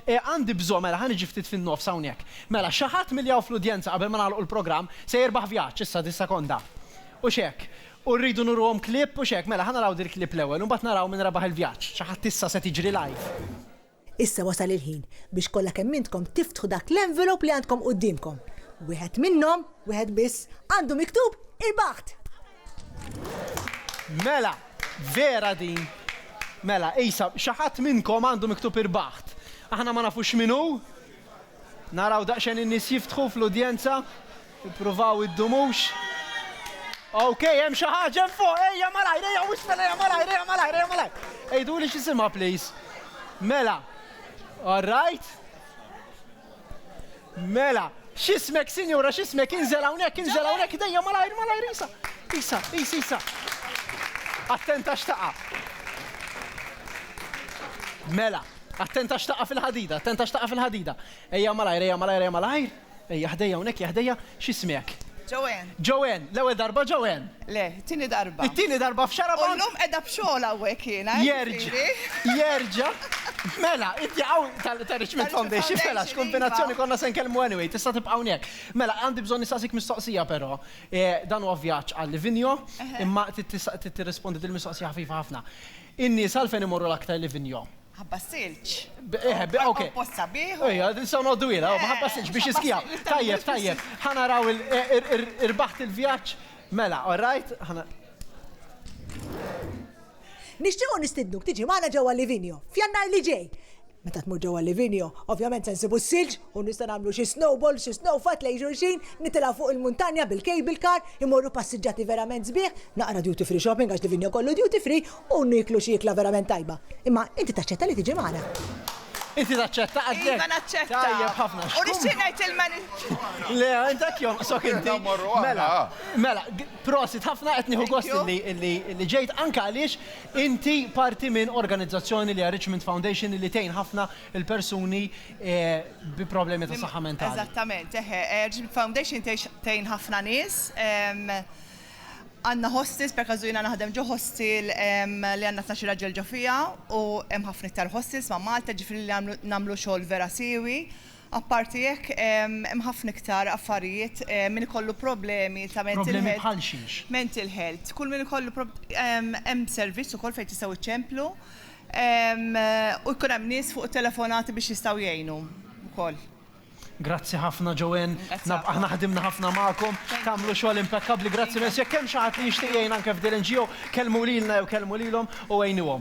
Eh, għandi bżonn, mela ħa niġi ftit fin-nofs hawnhekk. Mela, xi ħadd milli hawn fl-udjenza qabel ma nagħlqu l-programm se jirbaħ vjaġġ issa dis-sekonda. U x'hekk. U rridu nuruhom clip u x'hekk. Mela, ħa naraw dil-clip l-ewwel u mbagħad naraw min rebaħ il-vjaġġ. Xi ħadd issa se tiġri live. Issa wasal il-ħin biex kollha kemm intkom tiftħu dak l-envelope li għandkom quddiemkom. Wieħed minnhom, wieħed biss, għandu miktub Il-Baħt! Mela, vera din. Mela, isa, xi ħadd minnkom għandu miktub irbaħt. Aħna ma nafux min hu. Naraw daqsxejn in-nies jiftħu fl-udjenza. Ippruvaw iddumux. Ok, hemm xi ħaġa hemm fuq, ejja malajr, ejja wisna, ejja malajr, ejja malajr, ejja malajr. Ejdu li x'isimha please. Mela. All right. Mela, x'ismek sinjura, x'ismek inżel hawnhekk, inżel hawnhekk idejja malajr, malajr isa. Isa, isa, isa. Attenta x'taqa'. Mela, attenta x'taqa' fil-ħadida, attenta x'taqa' fil-ħadida. Ejja malajr, ejja malajr, ejja malajr. Ejja ħdejja hawnhekk, ejja ħdejja, x'ismek? Joanne. Joanne, l-ewwel darba Joanne? Le, It-tieni darba. It-tieni darba f'Xarabank. U llum qiegħda b'xogħol hawnhekk jiena. Jerġa'. Jerġa'. Mela, inti hawn tal-Richmond Foundation, mela x'kumbinazzjoni konna se nkellmu anyway, tista' tibqa' hawnhekk. Mela, għandi bżonn nistaqsik mistoqsija però. Dan huwa vjaġġ għal Livigno, imma trid tirrispondi din il-mistoqsija ħafifa ħafna. In-nies għalfejn imorru l-aktar Livigno? Ħabba s-silġ. Eħe, bi okej. Post sabiħ. Ejja, nistgħu noqogħdu twila, ħabba s-silġ biex jiskijaw. Tajjeb, tajjeb. Ħa naraw il-, irbaħt il-vjaġġ. Mela, all right, ħana. Nixtiequ nistidnuk tiġi magħna ġewwa Livigno, f'Jannar li ġej. Meta tmur ġewwa Livigno, ovvjament se nsibu s-silġ u nistgħu nagħmlu xi snowball, xi snowfight lejn xulxin, nitilgħu fuq il-muntanja bil-cable car, immorru passiġġati verament sbieħ, naqra duty free shopping għax Livigno kollu duty free, u nieklu xi ikla verament tajba. Imma inti taċċetta li tiġi magħna? Inti taċċetta għax hekk? Iva naċċetta. Tajjeb ħafna. U nixtieq ngħid il-menu. Le, int hekk jomqsok inti. Mela, mela, prosit ħafna qed nieħu gost li ġejt anke għaliex inti parti minn organizzazzjoni li Richmond Foundation li tgħin ħafna il-persuni eh, bi problemi ta' saħħa mentali. Eżattament, eħe, eh, Richmond Foundation tgħin ħafna nies ehm, Għandna hostels, per każu jiena naħdem ġo hostel li għandna tnax-il raġel ġo fiha u hemm ħafna iktar hostels ma' Malta, jiġifieri li nagħmlu xogħol vera siewi. Apparti hekk, hemm ħafna iktar affarijiet, min ikollu problemi ta' mental health. Problemi bħal xiex? Mental health. Kull min ikollu problemi, hemm servizz ukoll fejn tistgħu iċċemplu u jkun hemm nies fuq it-telefonati biex jistgħu jgħinu wkoll. Grazzi ħafna Joanne. Grazzi Naf ħafna. aħna ħdimna ħafna magħkom, Thank you. tagħmlu xogħol impekkabbli. Grazzi Iva. immens. Jekk hemm xi ħadd li jixtieq jgħin anke f'din il-NGO, kellmu lilna jew kellmu lilhom u għinuhom.